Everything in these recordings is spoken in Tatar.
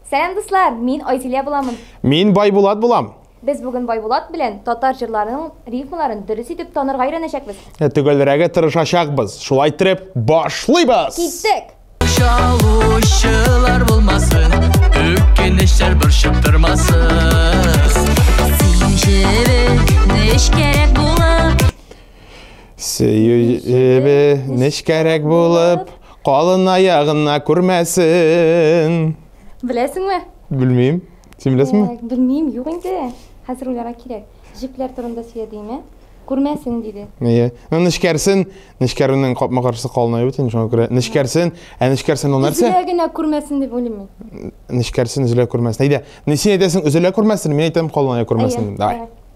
Сәлам дуслар, мин Айзилә буламын. Мин Байбулат булам. Без бүген Байбулат белән татар җырларының рифмаларын дөрес итеп танырга өйрәнәчәкбез. Ә Төгәлрәге тырышачакбыз. Шулай итеп, башлыйбыз! Киттек! Чалучылар булмасын, үкенечләр борчып тормасын. Син җебек, нечкәрәк булып. Сөюебе нечкәрәк булып, калын аягына күрмәсен. Беләсеңме? Белмим. Син беләсеңме? Ә, Белмим, юк инде. Хәзер уйларга кирәк. Җепләр турында сөйләдеңме? Күрмәсен диде. Әйе. Ну, нечкәрсен, нечкәрүнең капма-каршысы калын аю бит инде, шуңа күрә нечкәрсен. Ә нечкәрсен ул нәрсә? Үзләр генә күрмәсен дип уйлыйм мин. Нечкәрсен, өзелә күрмәсен. Әйдә, не син әйтәсең, өзелә күрмәсен, мин әйтәм, калын ая күрмәсен. Әйе, Давай. давай.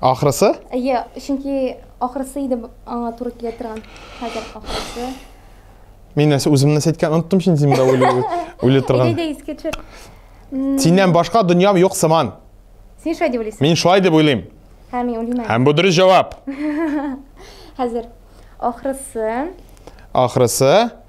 Ахрысы? Әйе, чөнки ахрысы иде аңа туры килә торган. Хәзер ахрысы. Мин нәрсә үземне сәйткән оныттым син син үле үле торган. Әйдә искә төшер. Синнән башка дөньям юк сыман. Син шулай дип уйлыйсың? Мин шулай дип уйлыйм. Һәм мин уйлыйм. Һәм бу дөрес җавап. Хәзер ахрысы. Ахрысы.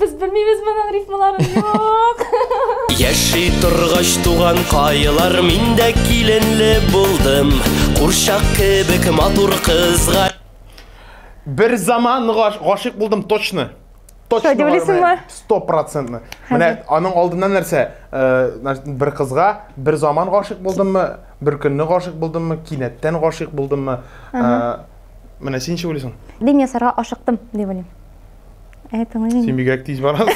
Без белмибез моның рифмаларын юк. Яши торгач туган каелар миндә киленле булдым. Курчак кебек матур кызга. Бер заман гашык булдым точно. Точно дилисеңме? 100%. Менә аның алдыннан нәрсә? Э, бер кызга бер заман гашык булдыммы? Бер көнне гашык булдыммы? Кинәттән гашык булдыммы? Э, Менә син ничек уйлыйсың? Дин ясарга ашыктым, дип уйлыйм. Ә тыңлыйм. Син бигрәк тиз барасың.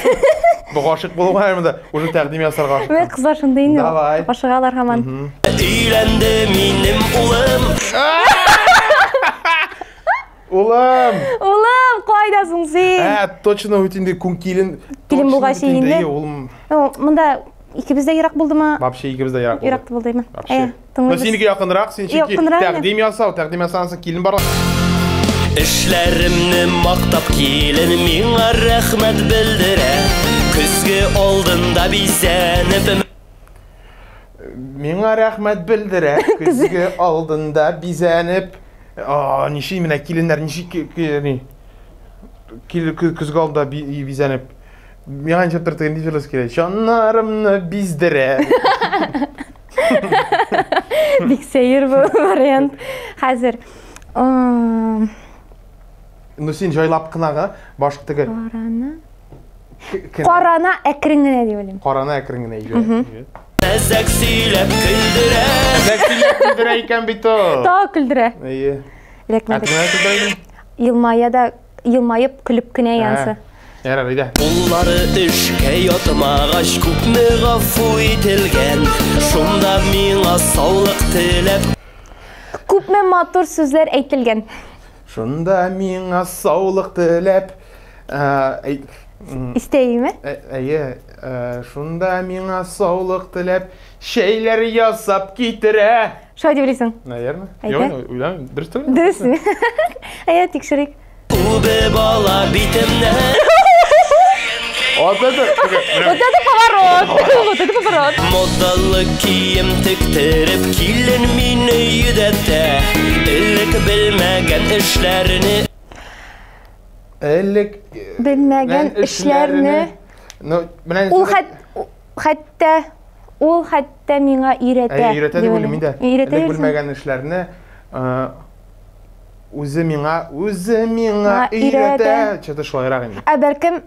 Бу гашык булуга һәм дә уже тәкъдим ясарга ашыктым. Менә кызлар шундый инде. Давай. Ашыгалар һаман. Өйләнде минем улым. Улым! Улым, кайдасың син? Ә, точно үт инде күн килен. Килен булгач инде. Улым. Монда икебез дә ерак булдымы? Вообще икебез дә ерак булды. Ерак булдымы? Вообще. Тыңлыйбыз. Синеке якынрак, син чөнки Якынрак, мен. тәкъдим ясау, тәкъдим ясансың, килен барлык. Эшләремне мактап килен миңа рәхмәт белдерә. Көзге алдында бизәнеп Миңа рәхмәт белдерә, көзге алдында бизәнеп. А, ничек менә киленнәр, ничек ки- ки- ни? Кил- кө- көзге алдында би- и- бизәнеп. Миңа ничек төр тегендиҗелес килә. Чаннарымны биздерә. Бик сәер бу вариант. Хәзер Ну син җайлап кынага баш тегер. Караны. Карана әкрен генә дип уйлыйм. Карана әкрен генә иде. Мәзәк сөйләп көлдерә. Мәзәк сөйләп көлдерә икән бит ул. Та көлдерә. Әйе. Ләкмәдек. Әкрен генә көлдерә. Елмая да Елмаеп, көлеп кенә янсы. Ярар, әйдә. Уллары эшкә ятмагач, күпме гафу ителгән. Шунда миңа саулык теләп. Күпме матур сүзләр әйтелгән. Шунда миңа саулык теләп. Истәйме? Әйе, шунда миңа саулык теләп, чәйләр ясап китерә. Шулай дип уйлыйсың? Наверное. Әйдә. Юк, уйлам, дөрес түгел. Дөресме? Әйдә, тикшерик. Үбе бала битемне. Вот это, вот это поворот. Вот это поворот. Модалы кием тиктереп килен мине йөдәтә. Элек белмәгән эшләрне. Элек э, белмәгән эшләрне. Ну, менә Ул хәт Хәтта ул хәтта миңа өйрәтә. Әйе, өйрәтә дип уйлыйм инде. Өйрәтә. Элек белмәгән эшләрне үзе миңа, үзе миңа өйрәтә. Чөтә шулайрак инде. Ә бәлкем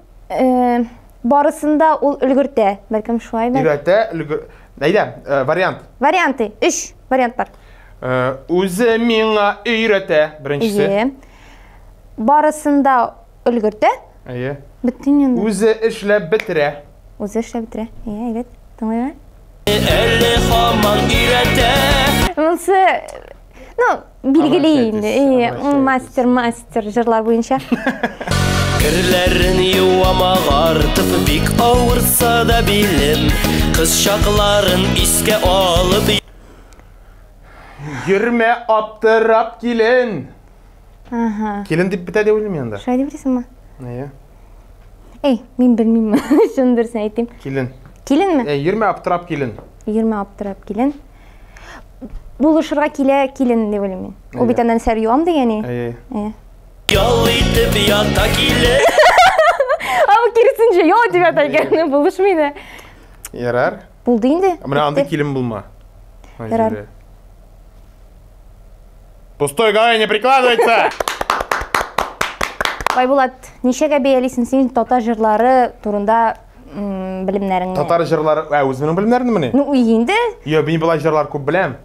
барысында ул өлгертә. Бәлкем шулай да. Өйрәтә, өлгер. Әйдә, вариант. Варианты. 3 вариант бар. Үзе миңа өйрәтә, беренчесе. Барысында Өлгертә? Әйе. Беттин инде. Үзе эшләп бетерә. Үзе эшләп бетерә. Әйе, әйдәт. Тыңлыйм. Әле хаман өйрәтә. Монсы Ну, билгеле инде. Әйе, мастер, мастер җырлар буенча. Керләрен юамак артып бик авырса да билем Кыз чакларын искә алып Йөрмә аптырап килен Ага. Килен дип бетә дип уйлыйм инде. Шулай дип уйлыйсыңмы? Әйе. Эй, мин белмим. Шуны дөресен әйтим. Килен. Киленме? Эй, йөрмә аптырап килен. Йөрмә аптырап килен. Булышырга килә килен дип уйлыйм мин. Ул бит аннан сәр юам дигәне. Әйе. Әйе. Ял итеп ята килен. Ау кирсенче, ял итеп ята икән. Булышмый да. Ярар. Булды инде. Менә анда килен булма. Ярар. Пустой голове не прикладывается! Байбулат, ничәгә бәялисең син татар җырлары турында м, белемнәреңне? Татар җырлары, ә үзеңнең белемнәреңме ни? Ну, инде Йо, мин болай җырлар күп беләм.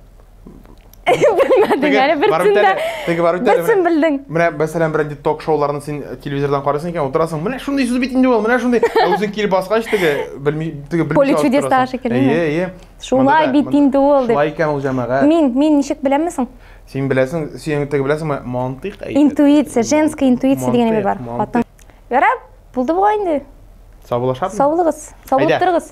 белмәдең әле барып берсен дә. үтәле, теге барып үтәле, Берсен менә. белдең. Менә мәсәлән берәнди ток-шоуларны син телевизордан карыйсың икән, утырасың, менә шундый сүз бит инде ул, менә шундый. Ә үзең килеп баскач теге белми, теге белмичә Поле алып чудес торасың. тагы шикелле, Әйе, әйе. Шулай бит инде ул дип. Шулай икән ул җәмәгать. Мин, мин ничек беләм соң? Син беләсең, син теге беләсеңме? Мантыйк әйтә. Интуиция, женская интуиция дигән әйбер бар. Хатын. Ярар, булды бугай инде. Саулашабыз. Саулыгыз. Саулык торыгыз.